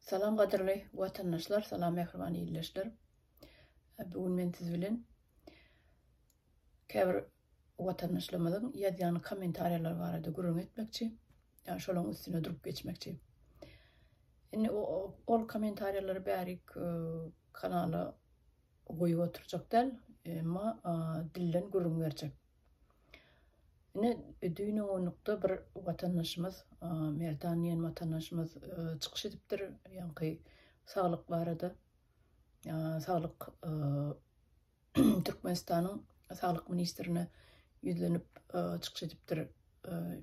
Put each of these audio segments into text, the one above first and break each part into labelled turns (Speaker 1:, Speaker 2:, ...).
Speaker 1: Salam gadyrly watandaşlar salam mähriban ildeşler bu gün men siz bilen käbir watandaşlarymyzyň ýazýan kommentariýalary barada gürrüň etmekçi ýa şolaryň üstüne durup geçmekçi indi ol kommentariýalary bärik e, kanala goýup oturjak däl emma dilden gürrüň berjek Ine, düýn onlukda bir watandaşymyz, Merdan diýen watandaşymyz çykyş edipdir, ýaňky saglyk barada. Saglyk Türkmenistanyň Saglyk ministrine ýüzlenip çykyş edipdir.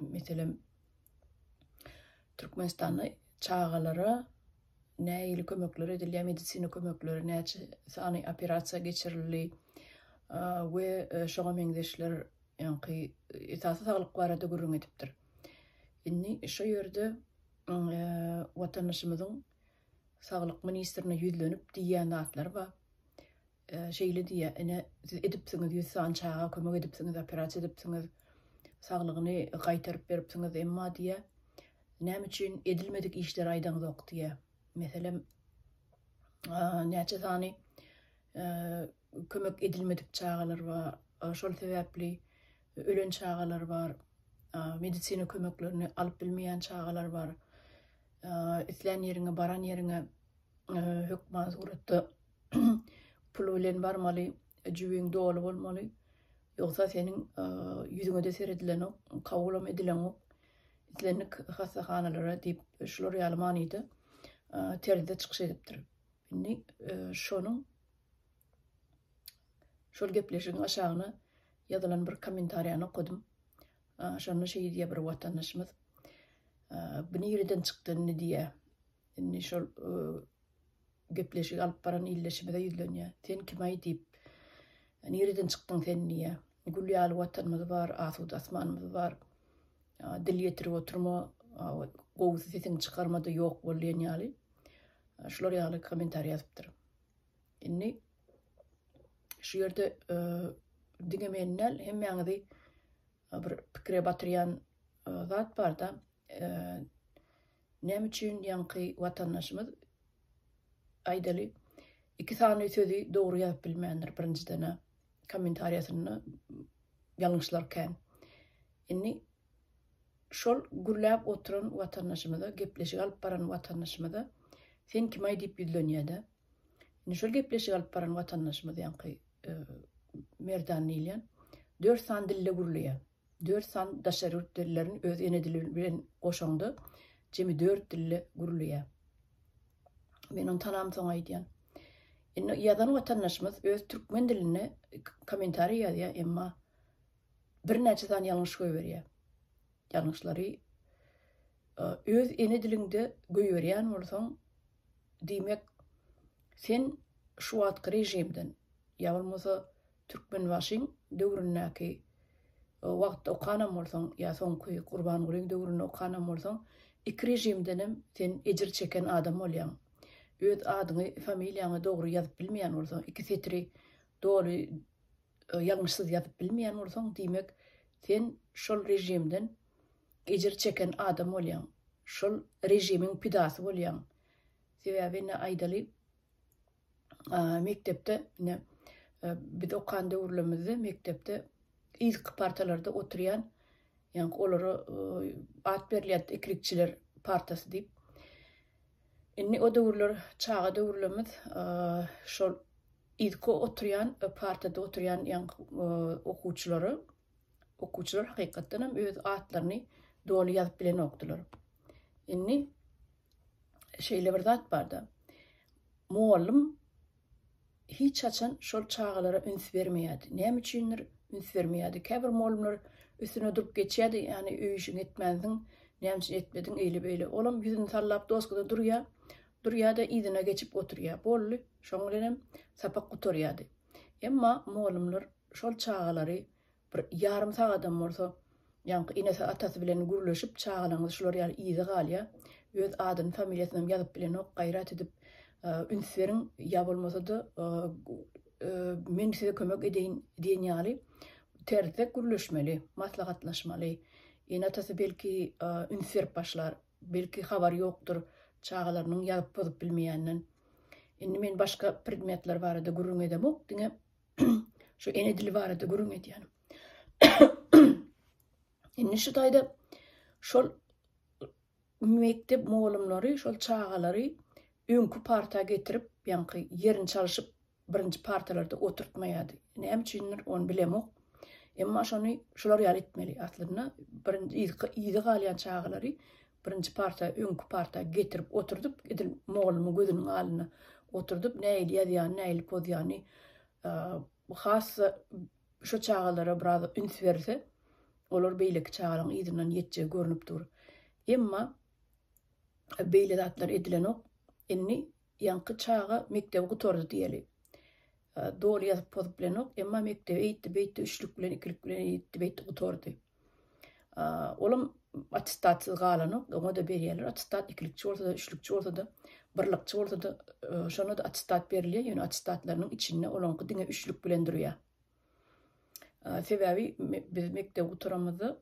Speaker 1: Meselem, Türkmenistanda çagalara nähili kömekler edilýär, medisina kömekleri, näçe sany operasiýa geçirildi we e, şoňa meňzeşler ýaňky esasy saglyk barada gürrüň edipdir. Indi şu ýerde e, watandaşymyzyň saglyk ministrine ýüzlenip diýýän zatlary bar. Şeýle diýýär, Ine, siz edipsiňiz, ýüz sany çaga kömek edipsiňiz, operasiýa edipsiňiz, saglygyny gaýtaryp beripsiňiz, emma diýýär, näme üçin edilmedik işleri aýdaňzok diýýär. Meselem, näçe sany kömek edilmedik çagalar bar, şol sebäpli ölen çagalar bar, medisina kömeklerini alyp bilmeýän çagalar bar, islän ýeriňe, baran ýeriňe hökman suratda pul bilen barmaly, jübiň doly bolmaly. Ýogsa seniň ýüzüňe-de seredilenok, kabulam edilenok. Islendik hassahanalara diýip, şular ýaly manyda terzde çykyş edipdir. Indi şonuň şol gepleşigiň aşagyna ýazylan bir kommentariýany okadym. Şonda şeýle diýýär bir watandaşymyz. Bu nireden çykdy indi diýýär. Indi şol Gepleşigi alyp baran ildeşimize ýüzlenýär. Sen kimaý diýip. Nireden çykdyň sen diýýär. Gül ýaly watanymyz bar, asuda asmanymyz bar. Dil ýetirip oturma, gowusy sesiňi çykarma-da ýok bol diýen ýaly. Şular ýaly kommentariý ýazypdyr. Indi şu ýerde diňe meni däl, hemmäňizi bir pikire batyrýan zat barda, näme üçin ýaňky watandaşymyz aýdaly iki sany sözi dogry ýazyp bilmändir birinjiden kommentariýasynda ýalňyşlar kän. Indi şol gürläp oturan watandaşymyza, gepleşik alyp baran watandaşymyza sen kimaý diýip ýüzlenýärde. Indi şol gepleşik alyp baran watandaşymyz ýaňky Merdan diýilýän dört sany dilde gürleýär. Dört sany daşary ýurt dillerini öz ene dili bilen goşaňda jemi dört dilde gürleýär. Men ony tanamsoň aýdýan. Indi ýazan watandaşymyz öz türkmen dilinde kommentariý ýazýar, emma birnäçe sany ýalňyş goýberýär. Ýalňyşlary e, öz ene diliňde goýberýän bolsaň, Diýmek, sen şu wagtky režimden, ýa bolmasa Türkmenbaşyň döwründäki wagtda okanam bolsaň, ýa soňky Gurbangulyň döwründe okanam bolsaň, iki režimdenem sen ejir çeken adam bolýaň. Öz adyňy, familiýaňy dogry ýazyp bilmeýän bolsaň, iki setiri doly ýalňyşsyz ýazyp bilmeýän bolsaň, diýmek, sen şol režimden Ejir çeken adam bolýaň. Şol režimiň pidasy bolýaň. Sebäbi indi aýdaly mekdepde indi biz okan döwürlerimizde mekdepde ilki partalarda oturýan ýaňky olara at berilýärdi ikilikçiler partasy diýip. Indi o döwürler çaga döwürlerimiz şol ilki oturýan partada oturýan ýaňky okuwçylary Okuwçylar hakykatdan hem öz atlaryny doly ýazyp bilenokdylar. Indi şeýle bir zat barda. Mugallym hiç haçan şol çagalara üns bermeýärdi. Näme üçindir üns bermeýärdi. Käbir mugallymlar üstüne durup geçýärdi, ýagny öý işiňi etmänsiň, näme üçin etmediň, eýle beýle. Olam ýüzüni sallap doskada durýar. Durýar-da yzyna geçip oturýar. Boldy. Şoň bilen hem sapak gutarýardy. Emma mugallymlar şol çagalary bir ýarym sagadam bolsa, ýaňky enesi, atasy bilen gürleşip, çagalaryňyz şular ýaly yza galýar, öz adyny, familiýasynam ýazyp bilenok, gaýrat edip, üns beriň, ýa bolmasa-da, men size kömek edeýin diýen ýaly terslek gürleşmeli, maslahatlaşmaly. Ene-atasy belki üns berip başlar. Belki habary ýokdur çagalarynyň ýazyp bozup bilmeýänden. Indi men başga predmetler barada gürrüň edemok, diňe şu ene dili barada gürrüň edýänim. Indi şu taýda şol mekdep mugallymlary şol çagalary öňki parta getirip, ýaňky ýerini çalyşyp birinji partalarda oturtmaýardy. Näme üçindir, ony bilemok. Emma şony şular ýaly etmeli. Aslynda birinji yzky yza galýan çagalary birinji parta, öňki parta getirip oturdyp, edil mugallymyň gözüniň alnyna oturdyp, nähili ýazýany, nähili pozýany has şu çagalara biraz üns berilse, olar beýleki çagalaryň yzyndan ýetjegi görnüp dur. Emma beýle zatlar edilenok. Indi Ýaňky çaga mekdebi gutardy diýeli. Doly ýazyp pozup bilenok, emma mekdebi eýtdi-beýtdi, üçlük bilen, ikilik bilen eýtdi-beýtdi gutardy. Olam attestatsyz galanok, oňa-da berýärler attestat, ikilikçi bolsa-da, üçlükçi bolsa-da, birlikçi bolsa-da, şonda-da attestat berilýär, ýöne attestatlarynyň içinde olaňky diňe üçlük bilen durýar. Sebäbi biz mekdebi gutaramyzda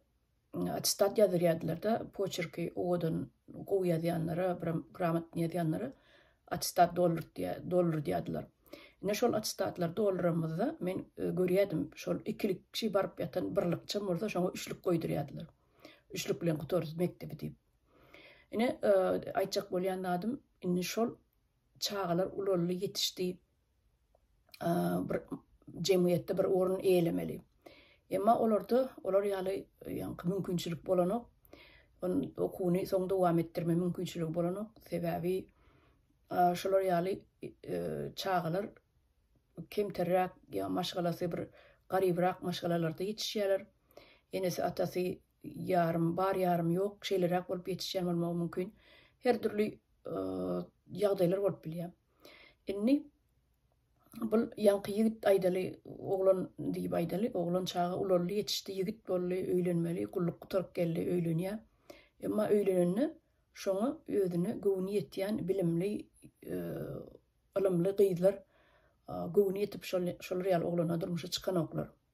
Speaker 1: Attestat ýazdyrýardylar-da, poçerki owadan, gowy ýazýanlara, biram gramatny ýazýanlara attestat doldurdýardylar. Ine, şol attestatlar dolduranymyzda men görýärdim, şol ikilik kişi baryp ýatan birlikçem bolsa şoňa üçlük goýdurýardylar. Üçlük bilen gutarys mekdebi diýip. Ine, aýtjak bolýan zadym, indi şol çagalar ulaldy, ýetişdi. bir jemgyýetde bir orun eýelemeli. Emma olarda olar ýaly ýaňky mümkinçilik bolanok. On okuwyny soň dowam etdirme mümkinçiligi bolanok. Sebäbi şolar ýaly çagalar kemterräk ýa maşgalasy bir garybrak maşgalalarda ýetişýärler. Enesi atasy ýarym bar ýarym ýok şeýleräk bolup ýetişýän bolmagy mümkin. Her dürli ýagdaýlar bolup bilýär. Indi bul ýaňky ýigit aýdaly oglan diýip aýdaly, oglan çaga ulaldy, ýetişdi, ýigit boldy, öýlenmeli, gulluk gutaryp geldi, öýlenýär. Emma öýlenende şoňa özüne göwni ýetýän bilimli, ylymly gyzlar göwni ýetip şolar ýaly oglana durmuşa çykanoklar.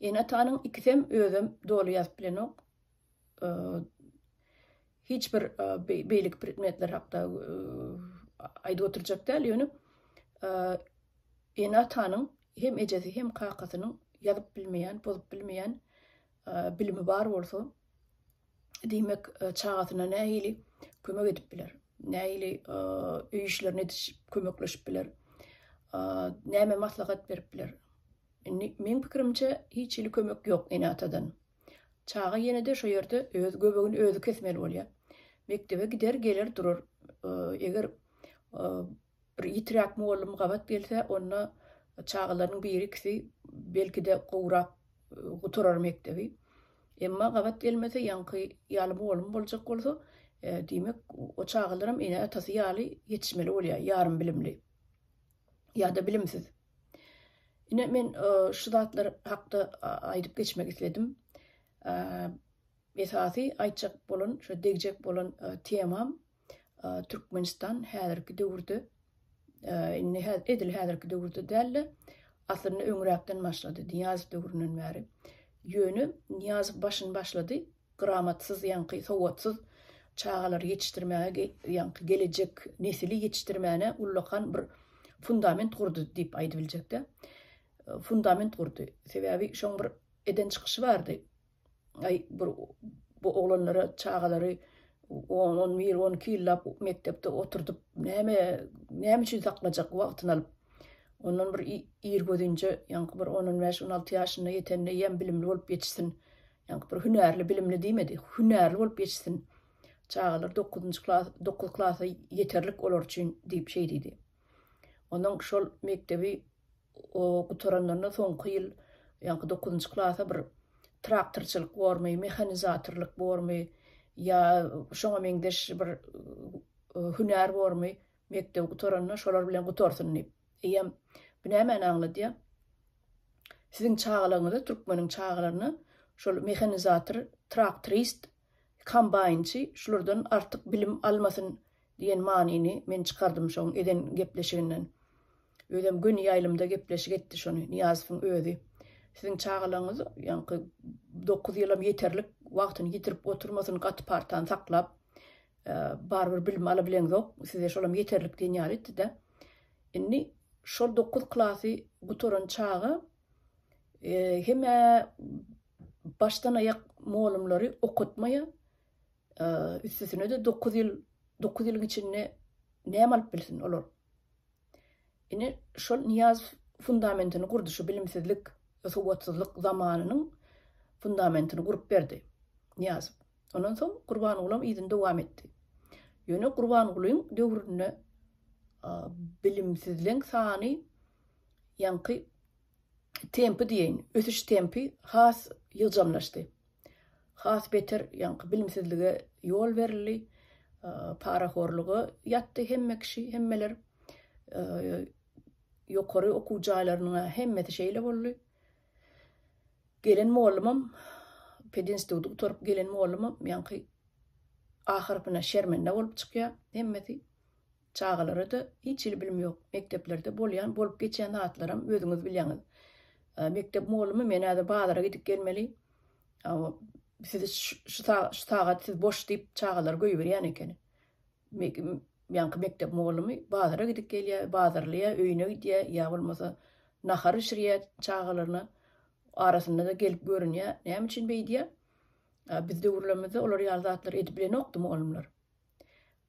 Speaker 1: Ene-atanyň ikisem özem doly ýazyp bilenok. Hiç bir beýleki predmetler hakda aýdyp oturjak däl, ýöne ene-atanyň hem ejesi hem kakasynyň ýazyp bilmeýän, bozup bilmeýän bilimi bar bolsa, diýmek, çagasyna nähili kömek edip biler? Nähili öý işlerini edişip, kömekleşip biler? Näme maslahat berip biler? Indi meň pikirimçe, hiç hili kömek ýok ene-atadan. Çaga ýene-de şo ýerde öz göbegini özi kesmeli bolýar. Mekdebe gider, geler durar. Eger Bir ýitiräk mugallym gabat gelse, onda çagalarynyň biri-ikisi, belki-de, gowrak gutarar mekdebi. Emma gabat gelmese, ýaňky ýaly mugallym boljak bolsa, diýmek, o çagalaram ene-atasy ýaly ýetişmeli bolýar, ýarym bilimli ýa-da bilimsiz. Ine, men şu zatlar hakda aýdyp geçmek isledim. Esasy aýtjak bolan, şu degjek bolan temam Türkmenistan häzirki döwürde indi edil häzirki döwürde däl-de, aslynda öňräkden başlady, Nyýazow döwründen bäri. Ýöne Nyýazow başyny başlady, gramatsyz, ýaňky sowatsyz çagalary ýetişdirmäge, ýaňky gelejek nesili ýetişdirmäne ullakan bir fundament gurdy diýip aýdybiljek-dä. Fundament gurdy. Sebäbi şoň bir eden çykyşy bardy. Aý, bir bu oglanlara çagalary on, on bir, on iki ýyllap mekdepde oturdyp, näme, näme üçin saklajak wagtyny alyp? Ondan bir irgözinje, ýaňky bir on, on bäş, on alty ýaşyna ýetende ýem bilimli bolup ýetişsin. Ýaňky bir hünärli, bilimli diýmedi, hünärli bolup ýetişsin. Çagalar dokuzynjy klas, dokuz klasa ýeterlik olar üçin diýip şeý diýdi. Onuň şol mekdebi O gutaranlarynda soňky ýyl ýaňky dokuzynjy klasa bir traktorçylyk bormy, mehanizatorlyk bormy ýa şoňa meňzeş bir hünär bormy, mekdebi gutaranda şolar bilen gutarsyn diýip. Eýýäm bu nämäni aňladýar? Siziň çagalaryňyza, türkmeniň çagalaryna şol mehanizator, traktorist Kombaýnçy şulardan artyk bilim almasyn diýen manyny men çykardym şoň eden gepleşiginden. Özem göni ýaýlymda gepleşik etdi şony Nyýazowyň özi. Siziň çagalaryňyz ýaňky dokuz ýylam ýeterlik wagtyny ýitirip oturmasyn gaty partany saklap barybir bilim alabileňzok size şolam ýeterlik diýen ýaly etdi-de. Indi şol dokuz klasy gutaran çaga hemä başdan aýak molumlary okatmaýa üstesine-de dokuz ýyl, dokuz ýylyň içinde näme alyp bilsin olar? Ine, şol Niýaz fundamentini gurdy, şu bilimsizlik, sowatsyzlyk zamanynyň fundamentini gurup berdi Niýaz. Ondan soň Gurbangulam yzyny dowam etdi. Ýöne Gurbangulyň döwründe bilimsizleň sany ýaňky tempi diýeýin, ösüş tempi has ýygjamlaşdy. Has beter ýaňky bilimsizlige ýol berildi, parahorluga ýatdy hemme kişi, hemmeler. Ýokary okuw jaýlarynyň-a hemmesi şeýle boldy. Gelen mollumam, pedinstituty gutaryp gelen mollumam ýaňky ahyrkyna şermende bolup çykýar hemmesi. Çagalara-da hiç hili bilim ýok. Mekdeplerde bolýan, bolup geçýän zatlaram özüňiz bilýäňiz. Mekdep mugallymym, men häzir bazara gidip gelmeli. Sizi şu sagat siz boş diýip çagalary goýberýän ekeni. Ýaňky mekdep mugallymy bazara gidip gelýär, bazarlaýar, öýüne gidýär ýa bolmasa nahar bişirýär çagalaryna. Arasynda-da gelip görünýär. Näme üçin beýdýär? Biz döwürlerimizde olar ýaly zatlary edip bilenokdy mugallymlar.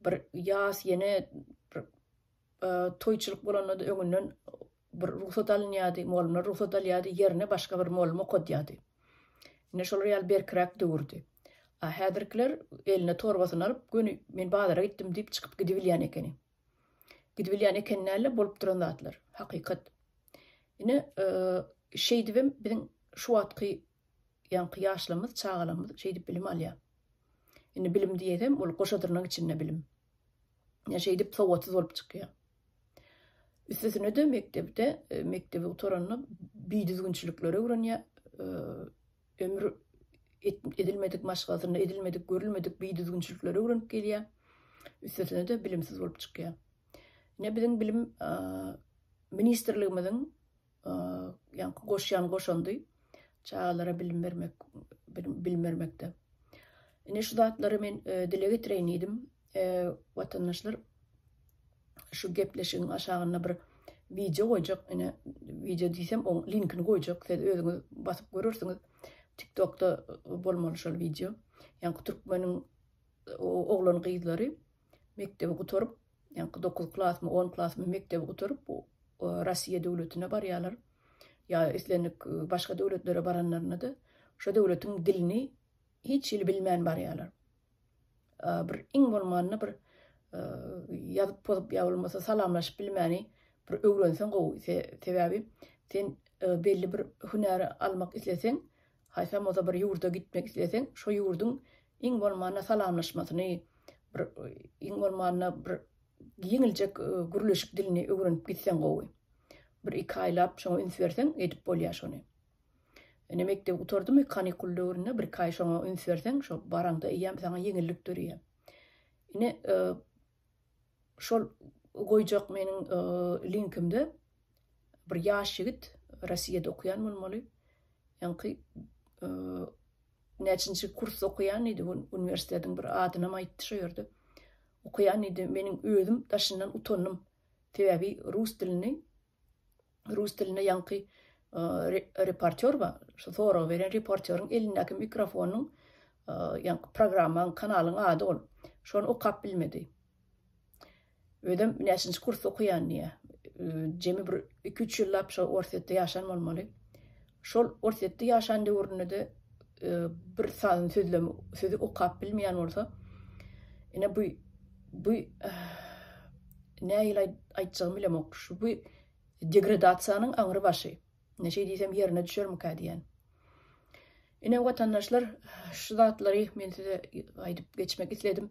Speaker 1: Bir ýas ýene bir toýçulyk bolanda-da öňünden bir rugsat alynýardy, mugallymlar rugsat alýardy, ýerine başga bir mugallym okadýardy. Ine şolar ýaly berkiräk döwürdi. A häzirkiler eline torbasyny alyp, göni men bazara gitdim diýip çykyp gidibilýän ekeni. Gidibilýän ekeni däl-de, bolup duran zatlar, hakykat. Ine, şeýdibem biziň şu wagtky Ýaňky ýaşlarymyz, çagalarymyz şeýdip bilim alýar. Indi bilim diýesem, ol goşadyrnak içinde bilim. Ýa şeýdip sowatsyz bolup çykýar. Üstesine-de mekdepde, e, mekdebi gutaranda bidüzgünçilikleri öwrenýär. E, ömür edilmedik maşgalasynda edilmedik, görülmedik bidüzgünçilikleri öwrenip gelýär. Üstesine-de bilimsiz bolup çykýar. Ine biziň bilim e, ministrligimiziň Ýaňky goşýan goşandy çagalara bilim bermek bilim bermekde. Ine şu zatlary men dile getireýin diýdim. Watandaşlar şu gepleşigiň aşagynda bir wideo goýjak. Ine wideo diýsem oň linkini goýjak. Siz özüňiz basyp görersiňiz. TikTokda bolmaly şol wideo. Ýaňky türkmeniň oglan gyzlary mekdebi gutaryp Ýaňky dokuz klasmy, on klasmy mekdebi gutaryp, Russiýa döwletine barýarlar. Ýa islendik başga döwletlere baranlarynda-da, şo döwletiň dilini hiç hili bilmän barýarlar. Bir iň bolmanda bir ýazyp-pozup ýa bolmasa salamlaşyp bilmäni bir öwrenseň gowy. Sebäbi sen belli bir hünäri almak isleseň, Haýsam bolsa bir ýurda gitmek isleseň, şo ýurduň iň bolmanda salamlaşmasyny, bir iň bolmanda bir ýeňiljek gürleşik dilini öwrenip gitseň gowy. Bir iki aýlap şoňa üns berseň, edip bolýar şony. Ine mekdebi gutardymy, kanikul döwründe bir iki aý şoňa üns berseň, şo baraňda eýýäm saňa ýeňillik dörýär. Ine, Şol goýjak meniň linkimde bir ýaş ýigit, Rossiýada okaýan bolmaly, ýaňky näçinji kursda okaýan diýdi, uniwersitetiň bir adynam aýtdy şo ýerde okaýan diýdi, meniň özüm daşyndan utandym, sebäbi rus dilini rus dilinde ýaňky reportýor bar, şu soragy beren reportýoryň elindäki mikrofonyň ýaňky programmaň, kanalyň ady ol. Şony okap bilmedi. Özem näçinji kursda okaýan diýýär. Jemi bir iki-üç ýyllap şo Orsýetde ýaşan bolmaly. Şol Orsýetde ýaşan döwründe-de bir sazyn sözlem sözi okap bilmeýän bolsa, ine bu bu nähili aý aýtjagymy bilemok. Şu bu degradasiýanyň aňry başy. Ine şeý diýsem ýerine düşermikä diýýän. Ine watandaşlar, şu zatlary men size aýdyp geçmek isledim.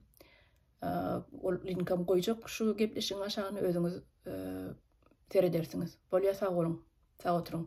Speaker 1: Ol linkam goýjak şu gepleşigiň aşagyna özüňiz seredersiňiz. Bolýa sag boluň. Sag oturyň.